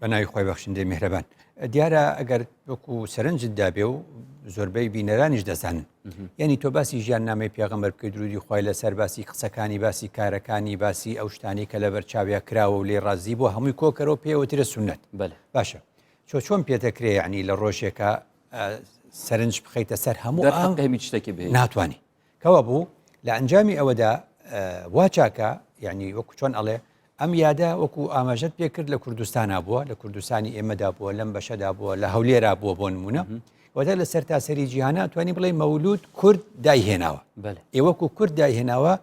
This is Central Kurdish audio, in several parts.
بە ناوی خۆی بەخشندەی میهرەبان دیارە ئەگەر وەکو سەرنجت دابێ و زۆربەی بینەرانیش دەزانن یعنی تۆ باسی ژیان نامی پێغەمەر بکەی درودی خی لەسەر باسی قسەکانی باسی کارەکانی باسی ئەو شتانی کە لەبەر چاویا کراوە و لێ ڕازی بۆ هەمووی کۆکەرەوە پێوەترە سنت باشە چۆ چۆن پێتەکرێ ینی لە ڕۆژێکە سەرنج بخیتە سەر هەموو ئەم هەمی شتێکی بێ ناتوانانی کەوابوو لە ئەنجامی ئەوەدا وا چاکە یعنی وەکو چۆن ئەڵێ ئەم یادە وەکو ئاماژەت پێ کرد لە کوردستانا بووە لە کوردستانی ئێمەدا بووە لەم بەشەدا بووە لە هەولێرا بووە بۆ نمونە وەدا لە سەر تاسەری جیهانە توانی بڵێ مەولود کورد دایهێناوە ئێوەکو کورد دایهێناوە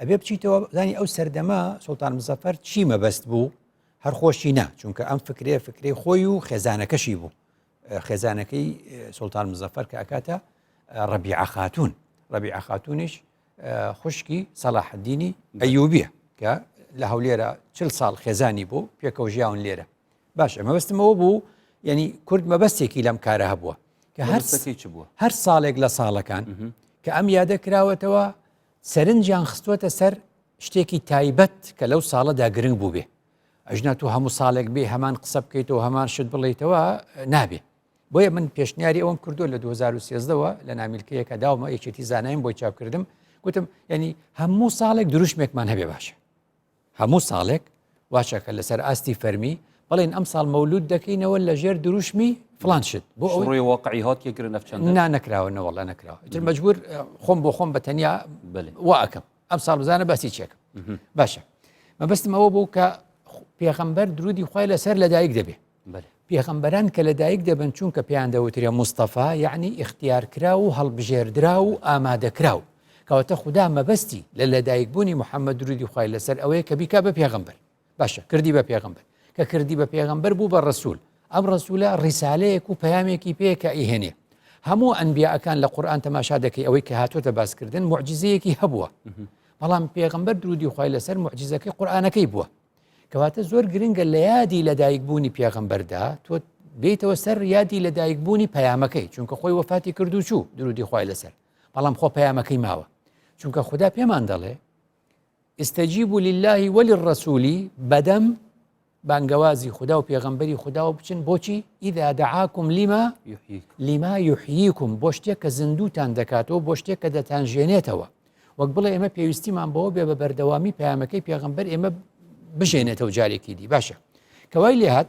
ئەبێ بچیتەوە زانی ئەو سەردەما سلتان مزەفەر چی مەبەست بوو هەر خۆشی نا چونکە ئەم فکرێ فکری خۆی و خێزانەکەشی بوو خێزانەکەی سوڵتان مزەفەر کە ئەکاتە ڕەبیعە خاتون ڕەبیعە خاتونیش خوشکی سەلاحدینی ئەیوبیە کە لە هەولێرە چل ساڵ خێزانی بوو پێکەوە ژیاون لێرە باش ئەمە بەستمەوە بوو یعنی کورد مەبەستێکی لەم کارە هەبووە کە هەرسەکەی چ بووە هەر ساڵێک لە ساڵەکان کە ئەم یادە کراوەتەوە سەرنجیان خستوەتە سەر شتێکی تایبەت کە لەو ساڵەدا گرنگ بوو بێ ئەژنا تو هەموو ساڵێک بێ هەمان قسە بکەیتەوە هەمان شت بڵیتەوە نابێ بۆیە من پێشنیاری ئەوم کردو لە 2013ەوە لە نامیلکەیەکە داومە یەکێتی زانایم بۆی چاپکردم گوتم ینی هەموو ساڵێک دروشمێکمان هەبێ باشە هەموو ساڵێک واشەکە لەسەر ئاستی فەرمی بڵێن ئەم ساڵ مەولود دەکەینەوە لە ژێر دروشمی فلان شت بۆ ئەوڕی واقعی هاتیە گرە نەفچەند نا نەکراوە نەوەڵە نەکراوە تر مەجبور خۆم بۆ خۆم بە تەنیا واکەم ئەم ساڵ بزانە باسی چێکم باشە مەبستم ئەوە بوو کە پێخەمبەر درودی خی لەسەر لەدایک دەبێ پێخەمبەران کە لەدایک دەبن چونکە پێیان دەوترێ مستەفا یعنی اختیارکرا و هەڵبژێردرا و ئامادەکرا و کەواتە خوددا مەبەستی لە لەدایکبوونی محەممەد درودی خی لەسەر ئەوەیە کە بیکا بە پێغمبەر باشە کردی بە پێغمبەر کە کردی بە پێغمبەر بوو بە ڕسوول ئەم ڕسوولە ڕیسالەیەک و پەیامێکی پێ کە ئیهێنێ هەموو ئەنبیاکان لە قورآان تەماشا دەکەی ئەوەی کە هاتوۆتە باسکردن معجززەیەکی هەبووە بەڵام پێغمبەر درودی خی لەسەر معجززەکەی قورآانەکەی بووە کەواتە زۆر گرنگە لە یادی لەدایک بوونی پێغمبەردا تۆ بیتەوە سەر یادی لەدایک بوونی پەیامەکەی چونکە خۆی وەفاتی کردو چوو درودی خی لەسەر بەڵام خۆ پەیامەکەی ماوە چونکە خوددا پێمان دەڵێ استجیبوا للە وللرسول بەدەم بانگەوازی خودا و پێغەمبەری خودا و بچن بۆچی ئیدا دەعاکم لیما لیما یحییکم بۆ شتێک کە زیندوتان دەکاتەوە بۆ شتێک کە دەتان ژێنێتەوە وەک بڵێ ئێمە پێویستیمان بەوە بێ بە بەردەوامی پامەکەی پێغمبەر ئێمە بژێنێتەوە جارێکی دی باشە کەوای لێهات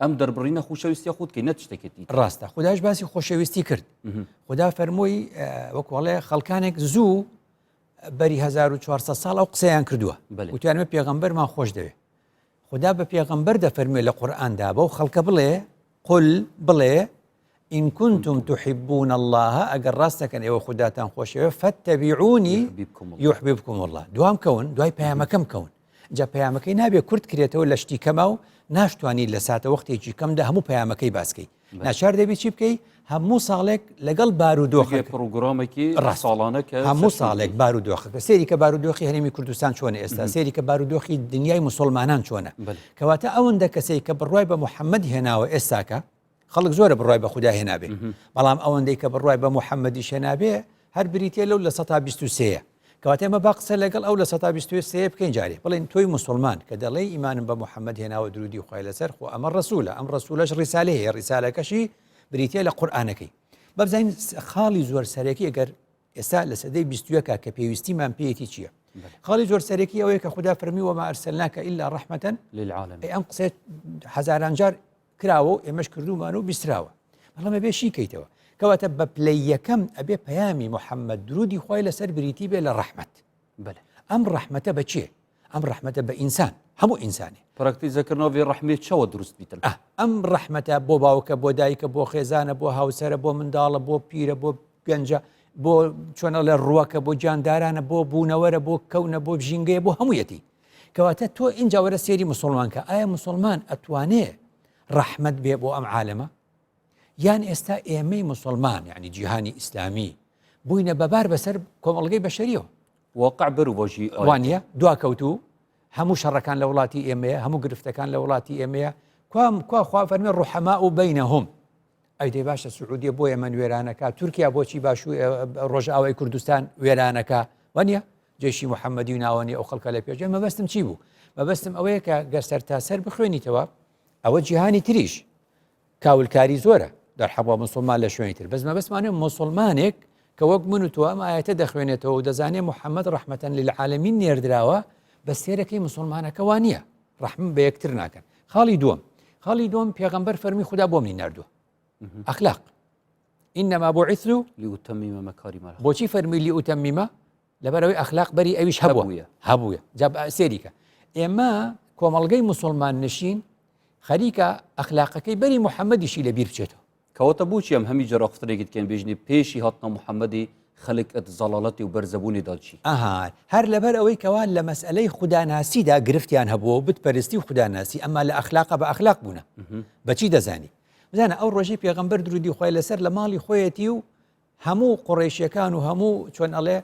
ئەم دەربڕینە خوشەویستی خود کە نەت شتێکێتی ڕاستە خداش باسی خۆشەویستی کرد خدا فەرمۆی وەکوڵێ خەڵکانێک زوو بەری 1400 ساڵ ئەو قسەیان کردووە وتیانمە پێغمبەرمان خۆش دەوێت خدا بە پێغمبەر دەفەرمێ لە قورآاندا بەو خەڵکە بڵێ قل بڵێ ان کنتم تحبون اللە ئەگەر ڕاست دەکەن ئێوە خوداتان خۆشەوێ فاتبعونی یحببکم اللە دوام کەون دوای پەیامەکەم کەون جا پەیامەکەی نابێ کورت کرێتەوە لە شتی کەما و ناشتوانانی لە ساتە وەختێکی کەمدا هەموو پەیامەکەی باسکەی ناچار دەبی چی بکەی هەموو ساڵێک لەگەڵ بارودۆخی پرۆگرامێکی ڕاستاڵانە کە هەموو ساڵێک بارودۆخەکە سێری کە بارودۆخی هەرێمی کوردستان چۆنە ئێستا سێری کە بارودۆخی دنیای مسلمانان چۆنە کەواتە ئەوەندە کەسێک کە بڕای بە محەممەد هێناوە ئێستاکە خەڵک زۆرە بڕای بە خودا هێنابێ بەڵام ئەوەندەی کە بڕای بە محەممەدی شێنابێ هەر بریتە لەو لە سە سێە کەواتە ئمە با قسە لەگەڵ ئەو لە سە سێ بکەین جارێ بڵین تۆی مسلمان کە دەڵێ ئیمانم بە محەممەد هێناوە درودی خخوای لەسەر خۆ ئەمە ڕسوولە ئەم ڕسوولەش ڕیسالێ هەیە ڕیسالەکەشی بریتە لە قورآانەکەی بەبزین خاڵی زۆر سەرەکی ئەگەر ئێستا لە سەدەی بیستوەکە کە پێویستیمان پێیەتی چییە خاڵی زۆر سەرەکی ئەوەیە کە خوددا فەرمی وەمە ئەرسەلناکە ئللا ڕحمەتەن للعاالم ئەم قسێت هزاران جار کراوە و ئێمەش کردومان و بیستراوە بەڵام ئەبێ شی کەیتەوە کەواتە بە پلەی یەکەم ئەبێ پەیامی محەممەد درودی خۆی لەسەر بریتی بێ لە ڕەحمەت ئەم ڕەحمەتە بەچێ ئەم ڕەحمەتە بە ئینسان هەموو ئینسانێ پرکتی زەکردنەوەی ڕحمی چەوە دروست بیتن ئەم ڕەحمەتە بۆ باوکە بۆ دایکە بۆ خێزانە بۆ هاوسرە بۆ منداڵە بۆ پیرە بۆ گەنجە بۆ چۆنە لە ڕووەکە بۆ جاندارانە بۆ بوونەوەرە بۆ کەونە بۆ ژینگەیە بۆ هەموویەتی کەواتە تۆ ئینجا وەرە سێری مسلمانکە ئایا مسلمان ئەتوانێ ڕەحمد بێ بۆ ئەم عالەمە یان ئێستا ئێمەی مسلمان یعنی جیهانی ئیسلامی بووینە بەبار بەسەر کۆمەڵگەی بەشەریەوە وەقع بەر و بۆژی ئەوانە دواکەوتو هەموو شەڕەکان لە وڵاتی ئێمەیە هەموو گرفتەکان لە وڵاتی ئێمەیە کوام کوا خوا فەرمی ڕحەما و بینە هەم ئەی دەی باشە سعودیە بۆ یەمەن وێرانەکە تورکیا بۆچی باش و ڕۆژئاوای کوردستان وێرانەکە وەنیە جێشی محەممەدی و ناوەنی ئەو خەڵکە لە پێشێ مەبەستم چی بوو مەبەستم ئەوەیە کە گەسەر تا سەر بخوێنیتەوە ئەوە جیهانی تریش کاولکاری زۆرە دەرحەبوو مسلمان لە شوێنی تر بەس مەبەستمانە مسلمانێک کە وەک من و تۆ ئەم ئاەتە دەخوێنێتەوە و دەزانێت محەممەد ڕحمەتەن لە عاالمی نێردراوە بە سێرەکەی مسلمانەکەوان نییە ڕحم بە یەکتر ناکەن خاڵی دووەم خاڵی دوم پێغمبەر فەرمی خوددا بۆ منی نردووە ئەخلاق ئینەما بۆ عیسلو لیوتەمیمە مەکاری مەرە بۆچی فەرمی لیوتەمیمە لەبەرەوەی ئەخلاق بەری ئەویش هەبووە هەبووە جاب سێریکە ئێمە کۆمەڵگەی مسلمان نشین خەریکە ئەخلاقەکەی بەری محەممەدیشی لە بیر بچێتەوە کەواتە بۆچی ئەم هەمی جەرەقفتنێکت کەن بێژنی پێشی هاتنە محمدی خەلک ئەت زەڵالەتی و بەرزەبوونی دا چی؟ ئەها هەر لەبەر ئەوەی کەوا لە مەسئەلەی خوداناسیدا گرفتیان هەبووە و بت پەرستی و خوداناسی ئەما لە ئەخلاقا بە ئەخلاق بوونە بە چی دەزانی؟ بزانە ئەو ڕۆژەی پێغەمبەر درودی خوای لەسەر لە ماڵی خۆیەتی و هەموو قوڕیشیەکان و هەموو چۆن ئەڵێ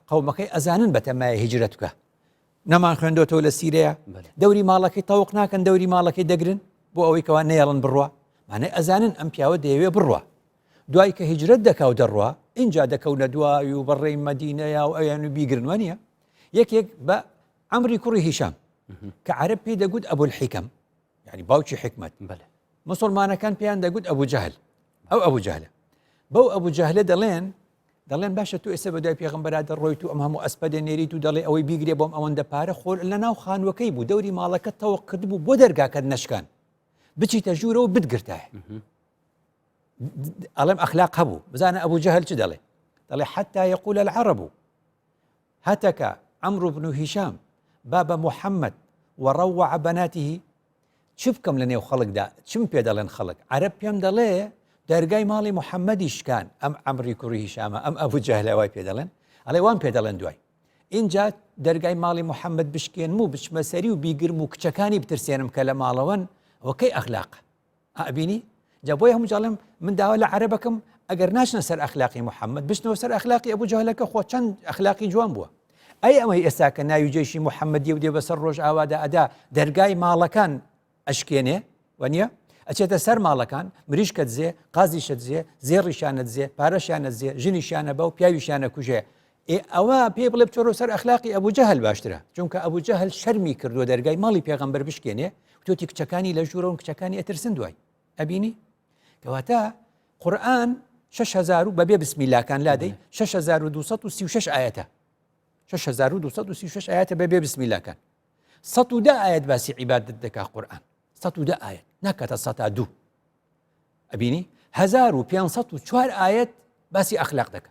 قەومەکەی ئەزانن بەتەمای هیجرەت بکە نەمان خوێندۆتەوە لە سیرەیە دەوری ماڵەکەی تەوق ناکەن دەوری ماڵەکەی دەگرن بۆ ئەوەی کەوا نەیەڵن بڕە مانای ئەزانن ئەم پیاوە دەیەوێ بڕە دوای کە هیجرەت دەکا و دەڕوە اینجا دەکەونە دوای و بەڕێی مەدینەیە و ئەویان و بیگرنوە نیە یەکێک بە ئەمری کوڕی هیشام کە عرب پێی دەگوت ئەبول حیکەم ینی باوکی حکمت بەێ مسلمانەکان پێیان دەگوت ئەبوو جەهل ئەو ئەبوو جەهلە بەو ئەبوو جەهلە دەڵێن دەڵێن باشە تۆ ئێستا بەدوای پێغمبەرا دەڕۆیت و ئەم هەموو ئەسپە دەنێریت و دەڵێ ئەوەی بیگرێ بۆم ئەوەندە پارە خۆر لە ناو خانوەکەی بوو دەوری ماڵەکە تەوە کرد بوو بۆ دەرگاکەت نشکان بچیتە ژوورەوە بتگرتایە ئەڵێم ئەخلاق هەبوو بزانە ئەبوو جەهل چ دەڵێ دەڵێ حتا یقول العرب هتک، عمرو بن هشام، باب محمد، و روع بناته، چ بکەم لەنێو خەڵکدا، چم پێ دەڵێن خەڵک، عەرەب پێم دەڵێ دەرگای ماڵی محمدی شکان، ئەم عەمری کوڕی هشامە، ئەم ئەبو جەهلە وای پێ دەڵێن، ئەڵێ وام پێ دەڵێن دوای ئینجا دەرگای ماڵی محمد بشکێنم و بچمە سەری و بیگرم و کچەکانی بترسێنم کە لە ماڵەوەن، ئەوە کەی ئەخلاقە؟ ئەبینی جا بۆیە هەموو جاڵێم من داوا لە عەرەبەکەم ئەگەر ناچنە سەر ئەخلاقی محەممەد بچنەوە سەر ئەخلاقی ئەبوو جەهلەکە خۆ چەند ئەخلاقی جوان بووە ئەی ئەمەی ئێستا کە ناوی جێشی محەممەدی و دێ بەسەر ڕۆژ ئاوادا ئەدا دەرگای ماڵەکان ئەشکێنێ وەنیە ئەچێتە سەر ماڵەکان مریشکە دزێ قازیشە دزێ زێڕیشانە دزێ پارەشانە دزێ ژنیشانە بە و پیاویشانە کوژێ ئێ ئەوە پێ بڵێ بچۆرۆ سەر ئەخلاقی ئەبوو جەهل باشترە چونکە ئەبوو جەهل شەرمی کردووە دەرگای ماڵی پێغمبەر بشکێنێ توتی کچەکانی لە ژوورەوە کچەکانی ئەترسن دوای ئەبینی کەواتە قورآن 6هزار و بەبێ بسمیلاکان لادەی 6236 ئاەتە 6236 ئاەتە بەبێ بسمیلاکان 100 ئاەت باسی عیبادت دەکا قورآن 100 ئاەت ناکاتە 100 دوو ئەبینی 1504 ئاەت باسی ئەخلاق دەکە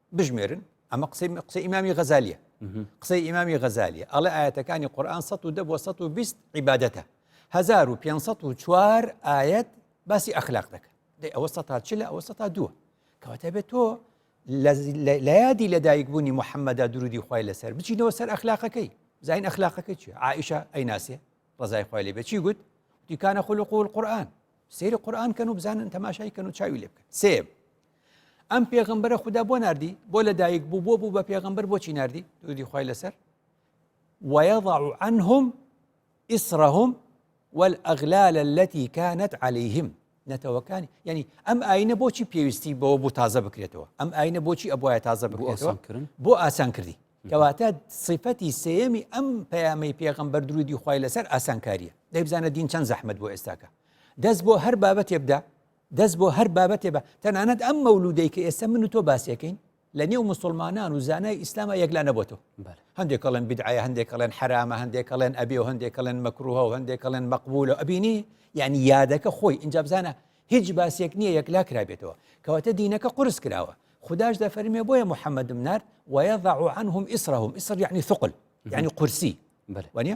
بژمێرن ئەمە قسەی قسە ئیمامی غەزالیە قسەی ئیمامی غەزالیە ئەڵێ ئاەتەکانی قورآان 1970 بۆ 120 عیباەتە 1504 ئاەت باسی ئەخلاق دەکەن دەی ئەوە سە تا چ لە ئەوە سە تا دووە کەواتە بێت تۆ لە یادی لەدایک بوونی محەممەدا درودی خی لەسەر بچینەوە سەر ئەخلاقەکەی زین ئەخلاقەکە چی عیشە ئەی ناسێ ڕزای خی لێ بچی گوت دیکانە خول و قول قورآن سری قورآن کەن و بزانن تەماشای کەن و چاوی لێ بکەن سێب ئەم پێغمبەرە خوددا بۆ نردی بۆ لە دایک بوو بۆ بوو بە پێغمبەر بۆچی نردی دوودی خی لەسەر وەضع عنهم ئیسرهم والأغلال التي كانت عليهم نەتەوەکانی ینی ئەم ئاینە بۆچی پێویستی بەوە بۆ تازە بکرێتەوە ئەم ئاینە بۆچی ئەبواە تازە بکرێتەوەکردن بۆ ئاسان کردی کەواتە سیفەتی سێەمی ئەم پەیامی پێغمبەر درودی خی لەسەر ئاسانکاریە دەیبزانە دین چەند زەحمت بۆ ئێستاکە دەست بۆ هەر بابەتێبدا دەست بۆ هەر بابەتێ بە تەنانەت ئەم مەولودەی کە ئێستا من و تۆ باسیەکەین لە نێو مسلمانان و زانای ئیسلامە یەکلا نەبتەوە هەندێک کەڵێن بدعاە هەندێک کەڵێن حرامە هەندێک کەڵێن ئەبێ و هەندێک کەڵێن مەکروها و هەندێک کەڵێن مەقبول و ئەبینی یعنی یادەکە خۆی ئینجا بزانە هیچ باسێک نییە یەکلا کرابێتەوە کەواتە دینەکە قرس کراوە خداش دەفەرمێ بۆیە محەممەد منار وەیەضع عنهم ئیسرهم ئیسر یعنی ثقل یعنی قورسی وانە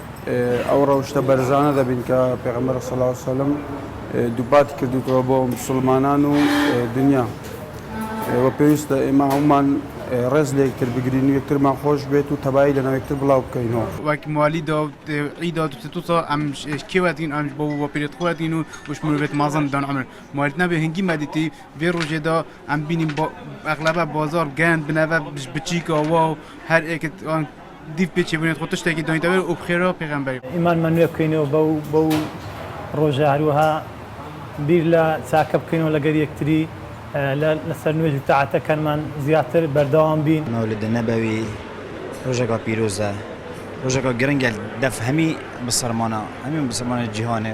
ئەو ڕەوشتە بەرزانە دەبین کە پێغەمبەر صلی اللە علیە وسلم دووپاتی کردووتەوە بۆ مسلمانان و دنیا و پێویستە ئێمە هەمومان ڕێز لە یەکتر بگرین و یەکترمان خۆش بێت و تەبایی لەناو یەکتر بڵاو بکەینەوە وەک موالی دا عید دا دوسێ تو ساڵ ئەم کێوەتین ئەمش بۆ بۆ پێت خۆەتین و وش مرۆڤێت مازن دان ئەمر موالیت نابێ هەنگی مادیتی بێ ڕۆژێدا ئەم بینیم بۆ ئەغلبە بازار گەند بنەبە بچیکەوە و هەر ئێکت دیف بێ چێبونێت خۆ تشتێکی دۆینتەوەێ و بخێرەوە پێغەمبەری. ئیمانمان نوێ بکەینەوە بەو بەو ڕۆژە هەروەها بیر لە چاکە بکەینەوە لەگەر یەکتری لە لەسەر نوێژ و تاعەتەکانمان زیاتر بەردەوام بین. مولد نبوی ڕۆژێکا پیرۆزە ڕۆژێکا گرنگە دەف هەمی بسەرمانا هەمی بسەرمانە جیهانێ.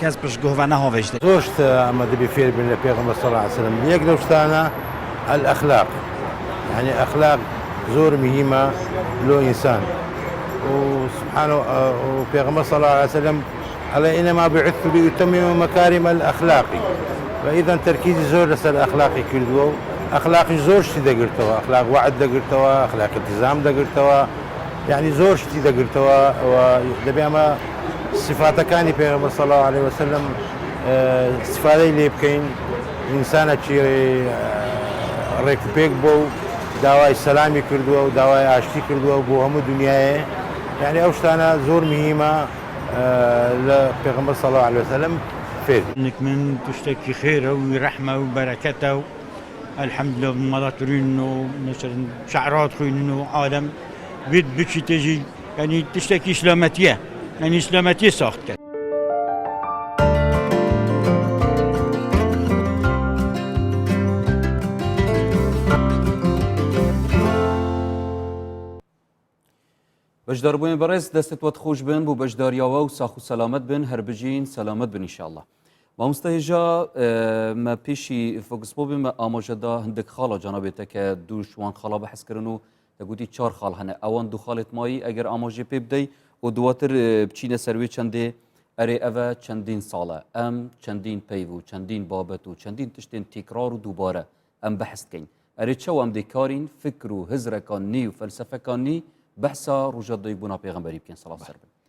کەس پشت گۆڤە نە هۆڤەیشت. زۆر شت ئەمە دەبێ فێر بین لە پێغەمبەر صلی اللە علیە وسلم یەک لەو شتانە الاخلاق یانی اخلاق زۆر مهیمە لۆ ئینسان و سبحان و پێغەمبەر صلی اللە علیە وسلم ئەڵێ انما بعثت لاتمم مکارم الاخلاق و اذن تەرکیزی زۆر لەسەر اخلاقی کردووە و اخلاقیش زۆر شتی دەگرتەوە اخلاق وعد دەگرتەوە اخلاق التزام دەگرتەوە یعنی زۆر شتی دەگرتەوە و دەبێ ئەمە سیفاتەکانی پێغەمبەر صلی اللە علیە وسلم استفادەی لێ بکەین ئینسانەکی ڕێک و پێک بۆ و داوای سەلامی کردووە و داوای ئاشتی کردووە بۆ هەموو دنیاە یعنی ئەو شتانە زۆر مهمە لە پێغەمبەر صلی اللە علیە وسلم فێر نکمن تشتێکی خێرە و رەحمە و بەرەکەتە و الحمد لله مەڵاترین و نەچەند شعرات خوێنن و عالم بێت بچی تێژی یانی تشتێکی سلامەتیە یانی سلامەتی ساخت کرد. بەشداربووین بەڕێز دەستت وەت خۆش بن بۆ بەشداریاوە و ساخ و سەلامت بن هەر بژین سەلامت بنیشاءله مامۆستا هێژا مە پێشی فۆکسپۆ بێمە ئاماژەدا هەندێک خاڵە جانابێتە کە دووشوان خاڵا بەحسکردن و دەگوتی چار خاڵ هەنە ئەوان دوو خاڵێت مایی ئەگەر ئاماژێ پێ بدەی و دواتر بچینە سەروێ چەندێ ئەرێ ئەڤە چەندین ساڵە ئەم چەندین پەیڤ و چەندین بابەت و چەندین تشتێن تیکرار و دووبارە ئەم بەحستکەین ئەرێ چەو ئەم دێکارین فکر و هزرەکان نی و فەلسەفەکان نی بەحسا ڕژە دەیبوونا پێغمبەری بکەین سەڵا سەر بن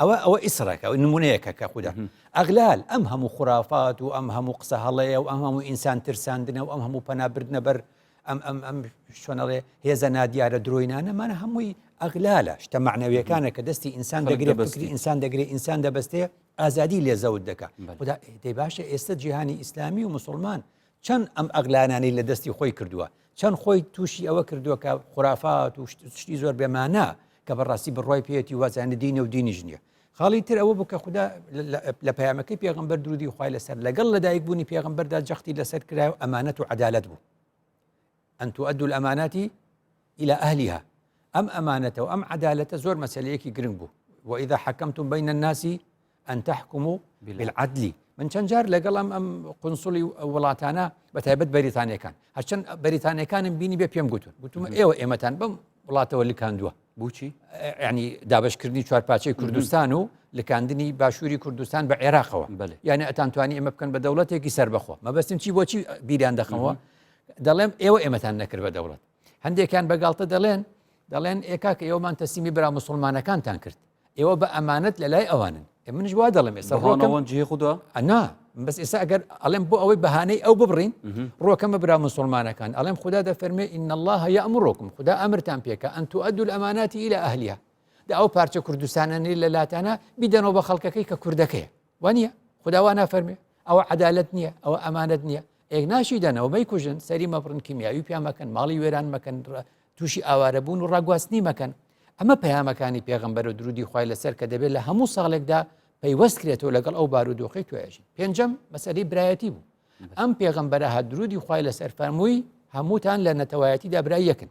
ئەوە ئەوە ئیسڕەکە ئەو نمونەیەکە کە خوددا ئەغلال ئەم هەموو خورافات و ئەم هەموو قسە هەڵەیە و ئەم هەموو ئینسان ترساندنە و ئەم هەموو پەنابردنە بەر ئەم ئەم ئەم شوێنەڵێ هێزە نادیارە درۆینانەمانە هەمووی ئەغلالە شتە معنەویەکانە کە دەستی ئینسان دەگرێت بەسری ئینسان دەگرێت ئینسان دەبستێ ئازادی لێ زەوت دەکە خدا دەی باشە ئێستا جیهانی ئیسلامی و مسلمان چەند ئەم ئەغلانانەی لە دەستی خۆی کردووە چەند خۆی تووشی ئەوە کردووە کە خورافات و شتی زۆر بێمانە کە بەڕاستی بڕای پێێتی وازانە دینە و دینیش نییە خاڵی تر ئەوە بوو کە خوددا لە پەیامەکەی پێغمبەر درودی خخوای لەسەر لەگەڵ لەدایک بوونی پێغمبەردا جەختی لەسەر کرا و ئەمانەت و عدالت بوو ان تؤدوا الامانات الى اهلها ئەم ئەمانەتە و ئەم عەدالەتە زۆر مەسەلەیەکی گرنگ بوو وإذا حكمتم بين الناس ان تحكموا بالعدل من چەند جار لەگەڵ ئەم ئەم قنسڵی وڵاتانە بە تایبەت بەریتانەکان هەرچەند بەریتانەکانم بینی بێ پێم گوتون گوتم ئێوە ئێمەتان بم وڵاتەوە لکاندووە بچی ینی دابشکردنی چوارپاچەی کوردستان و لکاندنی باشووری کوردستان بە عێراقەوە یعنی ئەتانتوانی ئمە بکەن بە دەوڵەتێکی سربەخۆ مەبەستم چی بۆچی بیران دەخەوە دەڵێم ئێوە ئێمەتان نەکرد بە دەوڵەت هەندێکیان بە گاڵتە دەڵێن دەڵێن ئێکاک ئێوەمان تەسیمی برا مسلمانەکانتان کرد ئێوە بە ئەمانەت لە لای ئەوانن منش وا دەڵێم ئێستا ڕۆکەوان جێ خدا ئەنا بەس ئێستا ئەگەر ئەڵێم بۆ ئەوەی بەهانەی ئەو ببڕین ڕۆکەمە برا مسلمانەکان ئەڵێم خدا دەفەرمێ ئین الله هەیە ئەمڕۆکم خدا ئەمرتان پێکە ئەن تو ئەدول ئەماناتی لە ئەهلیە دا ئەو پارچە کوردستانەنی لە لاتانە بیدەنەوە بە خەڵکەکەی کە کوردەکەی وە نییە خدا وا نافەرمێ ئەوە عدالت نییە ئەوە ئەمانەت نییە ئێک ناشی دەنەوە مەی کوژن سەری مەبڕن کیمیاوی پیا مەکەن ماڵی وێران مەکەن تووشی ئاوارە بوون و ڕاگواستنی مەکەن ئەمە پەیامەکانی پێغمبەر و درودی خی لەسەر کە دەبێت لە هەموو ساڵێکدا پەیوەست کرێتەوە لەگەڵ ئەو بارودۆخی توێژین پێنجەم مەسەری برایەتی بوو ئەم پێغمبەرە هە درودی خی لەسەر فەرمووی هەمووتان لە نەتەوایەتی دابرای یەکن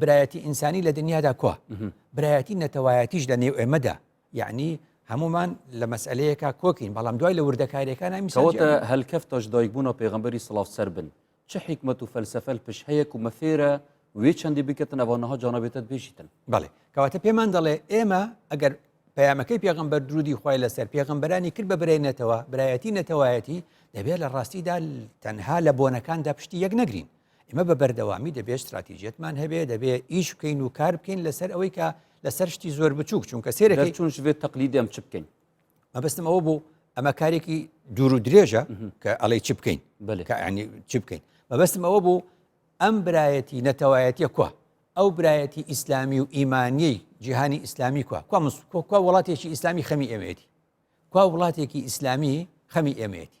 برایەتی ئینسانی لە دنیادا کوا برایەتی نەتەوایەتیش لە نێو ئێمەدا یعنی هەمومان لە مەسئلەیەکە کۆکین بەڵام دوای لە وردەکارەکان میسەوتە هەلکەفتەش دایکبوون و پێغمبەری سلااو سەر بن چه حکمت و فەلسفەل پش هەیە و مەفێرە وێ چەندی بکەن ئەوانەها جانەبێتت بێژیتن بڵێ کەواتە پێمان دەڵێ ئێمە ئەگەر پەیامەکەی پێغمبەر درودی خی لەسەر پێغمبەرانی کرد بە برێنێتەوە برایەتی نەتەوایەتی دەبێت لە ڕاستیدا تەنها لە بۆنەکاندا پشتی یەک نەگرین ئێمە بە بەردەوامی دەبێت ستراتیژیەتمان هەبێ دەبێ ئیش بکەین و کار بکەین لەسەر ئەوەی کە لەسەر شتی زۆر بچووک چونکە سێرەکەی چون شێت تەقلی دەم چ بکەین مەبستم ئەوە بوو ئەمە کارێکی دوور و درێژە کە ئەڵێ چ بکەین بەلکەنی چ بکەین مەبستم ئەوە بوو ئەم برایەتی نەتەوایەتە کووە ئەو برایەتی ئیسلامی و ئیمانیەی جیهانی ئیسلامی کووە کو مسکۆکە وڵاتێکی ئیسلامی خەمی ئەمێتی کوا وڵاتێکی ئیسلامی خەمی ئەمێتی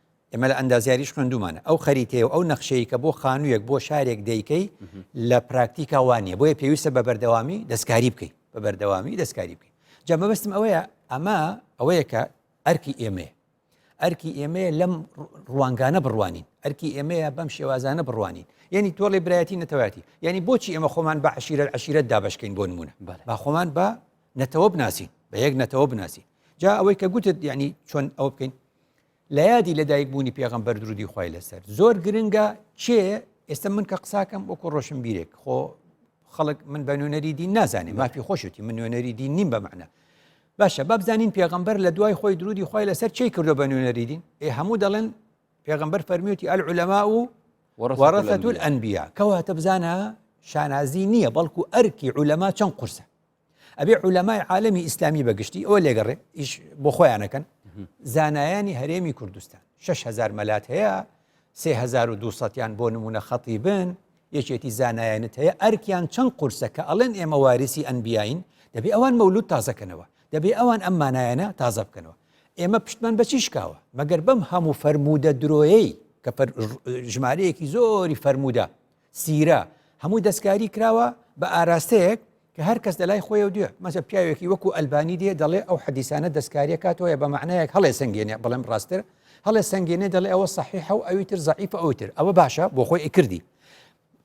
ئێمە لە ئەندازیاریش خوێندومانە ئەو خەریتەیە و ئەو نەخشەیە کە بۆ خانوویەک بۆ شارێک دەیکەی لە پراکتیکا وانە بۆیە پێویستە بە بەردەوامی دەستکاری بکەیت بە بەردەوامی دەستکاری بکەیت جا مەبستم ئەوەیە ئەمە ئەوەیە کە ئەرکی ئێمەیە ئەرکی ئێمەیە لەم ڕوانگانە بڕوانین ئەرکی ئێمەیە بەم شێوازانە بڕوانین یعنی تۆڵی برایەتی نەتەواتی یعنی بۆچی ئێمە خۆمان بە عشیرە عشیرەت دابشکین بۆ نمونە با خۆمان بە نەتەوە بناسین بە یەک نەتەوە بناسین جا ئەوەی کە گوتت یعنی چۆن ئەو بکەین لە یادی لەدایک بوونی پێغمبەر درودی خی لەسەر زۆر گرنگە چێ ئێستا من کە قساکەم وەکو ڕۆشن بیرێک خۆ خەڵک من بە نوێنەری دین نازانێ مافی خۆشتی من نوێنەری دین نیم بە معنە باشە بابزانین پێغمبەر لە دوای خۆی درودی خی لەسەر چی کردو بە نوێنەری دین ئێ هەموو دەڵێن پێغمبەر فەرمیوتی ئەل علەما و وەڕەتول ئەنبیا کەواتە بزانە شانازی نییە بەڵکو ئەرکی علەما چەند قورسە ئەبێ عولەمای عالمی ئیسلامی بەگشتی ئەوە لێگەڕێ ئیش بۆ خۆیانەکەن زانایانی هەرێمی کوردستان 6هزار مەلات هەیە 3200یان بۆ نمونە خەتی بن یەکێتی زانایانت هەیە ئەرکیان چەند قورسە کە ئەڵێن ئێمە واریسی ئەنبیین دەبێ ئەوان مەولود تازەکەنەوە دەبێ ئەوان ئەم مانایەنە تازە بکەنەوە ئێمە پشتمان بەچی شکاوە مەگەر بەم هەموو فەرموودە درۆیەی کە ژمارەیەکی زۆری فەرموودە سیرە، هەمووی دەستکاری کراوە بە ئاراستەیەک کە هەر کەس لەلای خۆیەو دوێ، مەسە پیاوێکی وەکو ئەلبانی دێ دەڵێ ئەو حەدیسانە دەستکاریە کاتۆیە بە مەعنایەک هەڵێ سەنگێنێ بڵێم ڕاستتر هەڵێ سەنگێنێ دەڵێ ئەوە سەحیحە و ئەوی تر زەعیفە ئەوی تر ئەوە باشە بۆ خۆی ئیکردی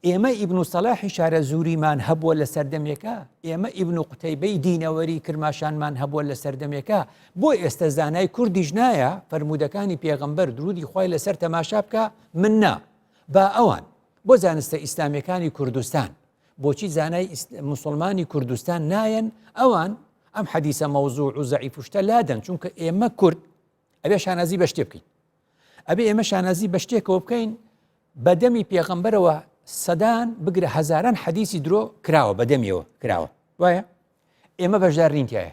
ئێمە ئیبن و سەلاحی شارە زوریمان هەبووە لە سەردەمێکە ئێمە ئیبن و قوتەیبەی دینەوەری کرماشانمان هەبووە لە سەردەمێکە بۆ ئێستا زانای کوردیش نایە فەرمودەکانی پێغەمبەر درودی خی لەسەر تەماشا بکە من نا با ئەوان، بۆ زانستە ئیسلامیەکانی کوردستان، بۆچی زانای موسڵمانی کوردستان نایەن، ئەوان ئەم حەدیسە مەوزوع و زەعیف و شتە لادەن، چونکە ئێمە کورد ئەبێ شانازی بە شتێ بکەین. ئەبێ ئێمە شانازی بە شتێکەوە بکەین بە دەمی پێغەمبەرەوە سەدان بگرە هەزاران حەدیسی درۆ کراوە بە دەمیەوە کراوە وایە ئێمە بەشدار نینتیایە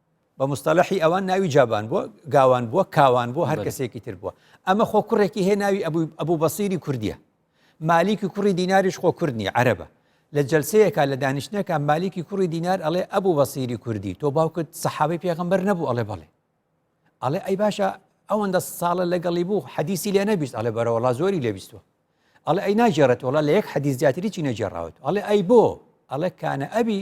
بە مستەلەحی ئەوان ناوی جابان بووە گاوان بووە کاوان بووە هەر کەسێکی تر بووە ئەمە خۆ کوڕێکی هەیە ناوی ئەبوو ئەبوو بەسیری کوردیە مالیکی کوڕی دیناریش خۆ کوردنی عەرەبە لە جلسەیەکە لە دانیشتنەکە مالیکی کوڕی دینار ئەڵێ ئەبوو بەسیری کوردی تۆ باوکت سەحابی پێغمبەر نەبوو ئەڵێ بەڵێ ئەڵێ ئەی باشە ئەوەندە ساڵە لەگەڵی بوو حەدیسی لێ نەبیست ئەڵێ بەرەوەڵا زۆری لێبیستوە ئەڵێ ئەی ناجێڕێت وڵا لە یەک حەدیز زیاتری چی نەجێڕاوت ئەڵێ ئەی بۆ ئەڵێ کانە ئەبی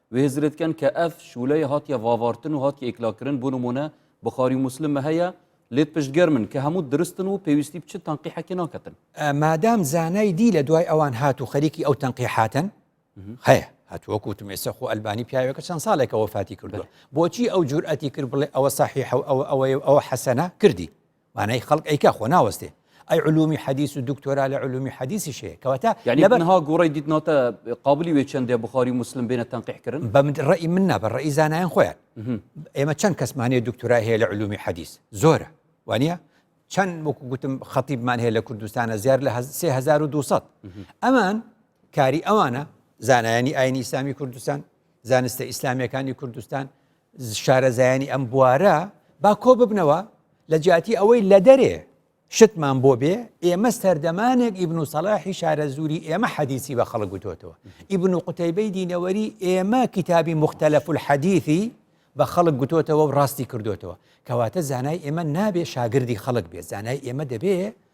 وێزرت کەن کە ئەف شولەێ هاتیە ڤاڤارتن و هاتیە ئیکلاکرن بو نمونە بخاری و موسلم مە هەیە لێت پشت گەرمن کە هەموت درستن و پێویستی بچ تەنقیحەکێ ناکەتن. مادام زانای دی لە دوای ئەوان هات و خەریکی ئەو تەنقیحاتەن هەیە هەتوو وەکو وتم ئێستا خۆ ئەلبانی پیاوێکە چەند ساڵێکە وەفاتی کردووە بۆچی ئەو جورئەتی کرد بڵێ ئەوە صحیحە و ئەوە ئەوەیە و ئەوە حەسەنە کردی مانای خەڵک ئەیکا خۆ ناوەستێ ئەی علومی حەدیس و دکتۆرا لە علومی حەدیسی شەیە کەواتە لە بەنها گوڕی دیتناتە قابلی وێ چندێ بخاری مسلم بێنە تەنقیحکردن بە ڕێی من نابە ڕێی زانایان خۆیان ئێمە چەند کەسمانەیە دکتۆرا هەیە لە علومی حەدیس زۆرە وانە چەند وەکو گوتم خەتیبمان هەیە لە کوردستانە زیار لە 1970 ئەمان کاری ئەوانە زانایانی ئاینی ئیسلامی کوردستان زانستە ئیسلامیەکانی کوردستان شارەزایانی ئەم بوارە با کۆببنەوە لە جیاتی ئەوەی لە دەرێ شتمان بۆ بێ ئێمە سەردەمانێک ئیبن و سەلاحی شارەزووری ئێمە حەدیسی بە خەڵک گوتۆتەوە ئیبن و قوتەیبەی دینەوەری ئێمە کتابی مختلف الحەدیثی بە خەڵک گوتۆتەوە و ڕاستی کردوتەوە کەواتە زانای ئێمە نابێ شاگردی خەڵک بێ زانای ئێمە دەبێ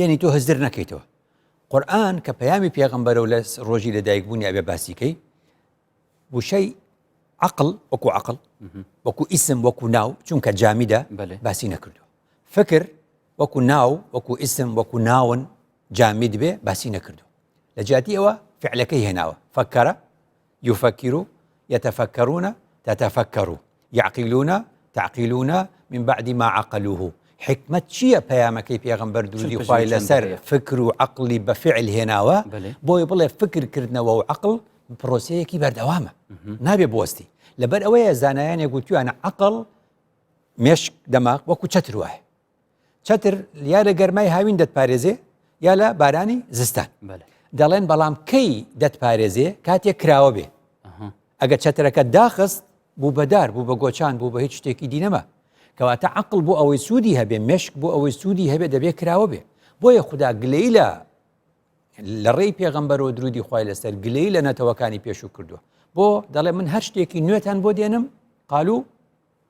یەنی تۆ هزر نەکەیتەوە قورآن کە پەیامی پێغمبەرە و لە ڕۆژی لەدایک بوونی ئەبێ باسیکەی وشەی عقل وەکو عقل وەکو ئیسم وەکو ناو چونکە جامیدا باسی نەکردو فکر وەکو ناو وەکو ئیسم وەکو ناون جامید بێ باسی نەکردو لە جیاتی ئەوە فعلەکەی هێناوە فەکەرە یوفەکیرو یەتەفەکەرونە تەتەفەکەرو یەعقیلونە تەعقیلونە من بعد ما عقلوه حیکمەت چییە پەیامەکەی پێغەمبەر درودی خوای لەسەر فکر و عقلی بە فعل هێناوە بۆی بڵێ فکر کردنەوە و عقل پرۆسەیەکی بەردەوامە نابێ بوەستی لەبەر ئەوەیە زانایانێک گوتویانە عقل مێشک دەماغ وەکو چەتر وایە چەتر یا لە گەرمای هاوین دەتپارێزێ یا لە بارانی زستان دەڵێن بەڵام کەی دەتپارێزێ کاتێک کراوە بێ ئەگە چەترەکە داخست بوو بەدار بوو بە گۆچان بوو بە هیچ شتێکی دینەما کەواتە عقل بۆ ئەوەی سوودی هەبێ مشک بۆ ئەوەی سوودی هەبێ دەبێ کراوە بێ بۆیە خوددا گلەی لە لە ڕێی پێغەمبەر و درودی خی لەسەر گلەی لە نەتەوەکانی پێشوو کردووە بۆ دەڵێ من هەر شتێکی نوێتان بۆ دێنم قالو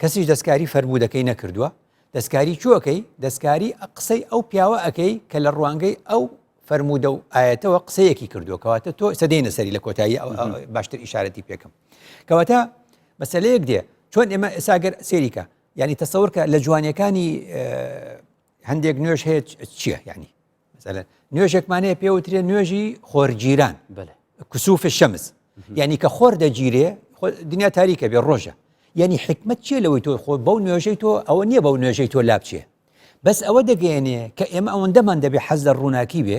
کەسیش دەستکاری فەرموودەکەی نەکردووە دەستکاری چوو ئەکەی دەستکاری قسەی ئەو پیاوە ئەەکەی کە لە ڕوانگەی ئەو فەرموودە و ئاەتەوە قسەیەکی کردووە کەواتە تۆ سەدەینە سەری لە کۆتایی باشتر ئیشارەتی پێکم کەواتە مەسلەیەک دێ چۆن ئێمە ئێساگەر سێریکە ینی تەسەورکە لە جوانیەکانی هەندێک نوێش هەیە چییە ینی مەسەلەن نوێژێکمان هەیە پێ وترێ نوێژی خۆرگیران کسوفە شەمز یعنی کە خۆر دەگیرێ دنیا تاریکە بێ ڕۆژە یعنی حکمت چیە لەوەی تۆ خۆ بەو نوێژەی تۆ ئەوە نییە بەو نوێژەی تۆ لابچێ بەس ئەوە دەگەێنێ کە ئێمە ئەوەندەمان دەبێ حەز لە ڕووناکی بێ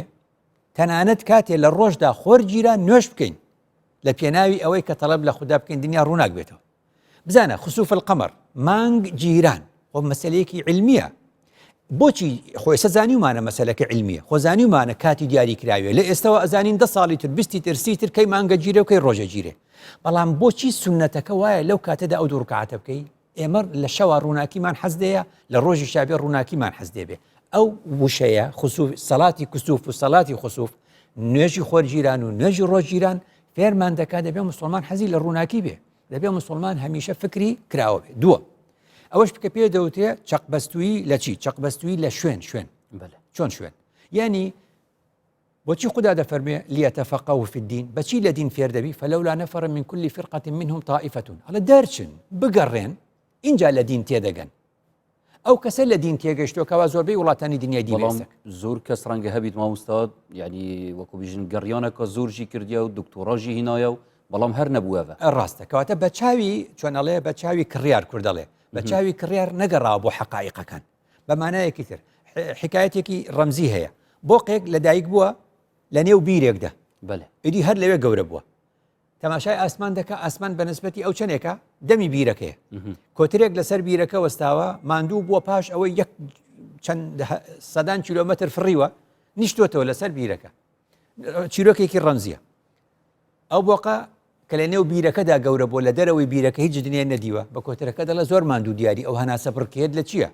تەنانەت کاتێ لە ڕۆژدا خۆر گیران نوێش بکەین لە پێناوی ئەوەی کە تەڵب لە خوددا بکەین دنیا ڕووناک بێتەوە بزانە خسوف القمر مانگ گیران خۆ مەسلەیەکی علمیە بۆچی خۆی سەزانیمانە مەسلەکە علمیە خۆ زانیمانە کاتی دیاری کراوێ لە ئێستەوە ئەزانین دە ساڵی تر بیستی ترسی تر کەی مانگە گیرە و کەی ڕۆژە گیرێ بەڵام بۆچی سنەتەکە وایە لەو کاتەدا ئەو دوورکاتە بکەی ئێمە لە شەوا ڕووناکیمان حەزدەیە لە ڕۆژی شابێ ڕووناکیمان حەزدێ بێ ئەو وشەیە خسوف سەڵاتی کسوف و سەڵاتی خسوف نوێژی خۆرگیران و نوێژی ڕۆژگیران فێرمان دەکات دەبێ مسلمان حەزی لە ڕووناکی بێ دەبێ مسلمان هەمیشە فکری کراوە بێ دووە ئەوەش بکە پێ دەوتێ چەقبەستوی لە چی چەقبەستوی لە شوێن شوێن چۆن شوێن یعنی بۆچی خدا دەفەرمێ لیەتە فەقە و فدین بەچی لە دین فێر دەبی فەلەولا نەفر من کولی فرقەتی منهم تائیفەتون هەڵە دەرچن بگەڕێن اینجا لە دین تێدەگەن ئەو کەسە لە دین تێگەشتۆ کەوا زۆربەی وڵاتانی دنیای دیێسە زۆر کەس ڕەنگە هەبیت ماموستا یعنی وەکو بژن گەڕیانە کە زۆرژی کردیا و دکتۆڕژی هینایە و بەڵام هەر نەبووەوە ڕاستە کەواتە بە چاوی چۆنەڵێ بە چاوی کڕیار کوردەڵێ بە چاوی کڕیار نەگەڕا بۆ حقائقەکان بەمانایەکی تر حکایەتێکی ڕەمزی هەیە بۆقێک لە دایک بووە لە نێو بیرێکدا بەێ ئیدی هەر لەوێ گەورە بووە تەماشای ئاسمان دەکە ئاسمان بە نسبەتی ئەو چەندێکە دەمی بیرەکەی کۆترێک لەسەر بیرەکە وەستاوە ماندوو بووە پاش ئەوەی یەک چەند سەدان کیلومتر فڕیوە نیشتوتەوە لەسەر بیرەکە چیرۆکێکی ڕەمزیە ئەو بۆقە کە لە نێو بیرەکەدا گەورە بۆ لە دەرەوەی بیرەکە هیچ دنیای نەدیوە بە کۆترەکە دەڵە زۆر ماندوو دیاری ئەو هەناسە بڕکێت لە چییە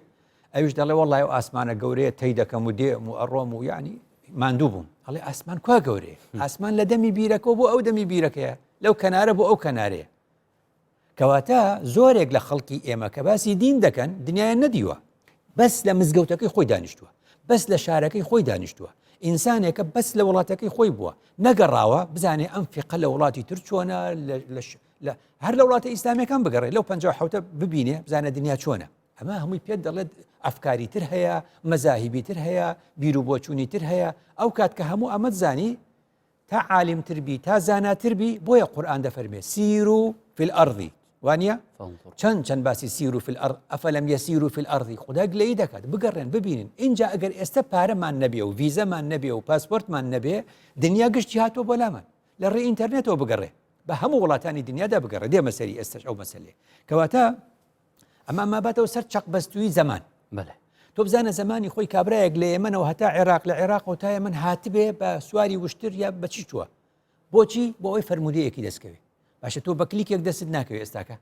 ئەویش دەڵێ وەڵای و ئاسمانە گەورەیە تەی دەکەم و دێم و ئەڕۆم و یعنی ماندوو بووم ئەڵێ ئاسمان کوا گەورەیە ئاسمان لە دەمی بیرەکەەوە بۆ ئەو دەمی بیرەکەیە لەو کەنارە بۆ ئەو کەنارەیە کەواتە زۆرێک لە خەڵکی ئێمە کە باسی دین دەکەن دنیایان نەدیوە بەس لە مزگەوتەکەی خۆی دانیشتووە بەس لە شارەکەی خۆی دانیشتووە ئینسانێکە بەس لە وڵاتەکەی خۆی بووە نەگەڕاوە بزانێ ئەم فقە لە وڵاتی تر چۆنە هەر لە وڵاتە ئیسلامەکان بگەڕێ لەو پ حوتە ببینێ بزانە دنیا چۆنە ئەمە هەمووی پێت دەڵێت ئەفکاری تر هەیە، مەزاهیبی تر هەیە، بیروبۆچوونی تر هەیە، ئەو کات کە هەموو ئەمەت زانی، تا عالم تر بی، تا زاناتر بی، بۆیە قورئان دەفەرمێ سیر و فی الارض وانە چەند چەند باسی سیر و فی الارض ئەفەلم یەسیر و فی الارض خدا گلەی دەکات بگەڕێن ببینن اینجا ئەگەر ئێستا پارەمان نەبێ و ویزەمان نەبێ و پاسپۆرتمان نەبێ دنیا گشتی هاتۆ بۆ لامان لە ڕێ ئینتەرنێتەوە بگەڕێ بە هەموو وڵاتانی دنیادا بگەڕێ دێ مەسەری ئێستش ئەو مەسلێ کەواتە ئەمان ماباتەوە سەر چەق بەستووی زەمان بەێ تۆ بزانە زمانی خۆی کابراەک لە ئێمەەوە هەتا عێراق لە عێراق و تایە من هاتبێ بە سواری وشتر یا بەچی چووە بۆچی بۆ ئەوی فەرمودەیەکی دەستکەوێت باشە تۆ بە کلیکێک دەست ناکەوێت ئێستاکە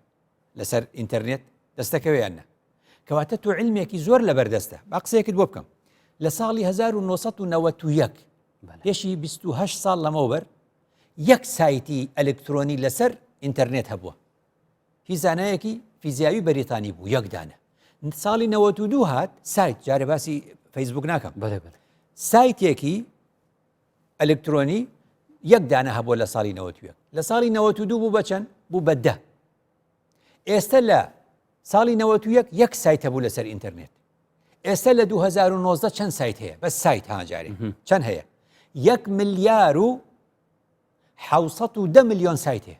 لەسەر ئینتەرنێت دەستەکەوێیاننا کەواتە تۆ علمێکی زۆر لە بەردەستە با قسەیەکت بۆ بکەم لە ساڵی 1991 پێشی 28 ساڵ لەمەوبەر یەک سایتی ئەلکترۆنی لەسەر ئینتەرنێت هەبووە هی زانایەکی فیزیاوی بەریتانی بوو یەک دانە ساڵی 92 هات سایت جارە باسی فەیسبوک ناکەم سایتێکی ئەلکترۆنی یەک دانە هەبوو لە ساڵی 90 لە ساڵی 92 بوو بەچەند بوو بەدە ئێستا لە ساڵی 91 یەک سایتە بوو لەسەر ئینتەرنێت ئێستا لە 2009 چەند سایت هەیە بە سایت هاجارێ چەند هەیە یەک ملیار و حوسەت و دە میلیۆن سایت هەیە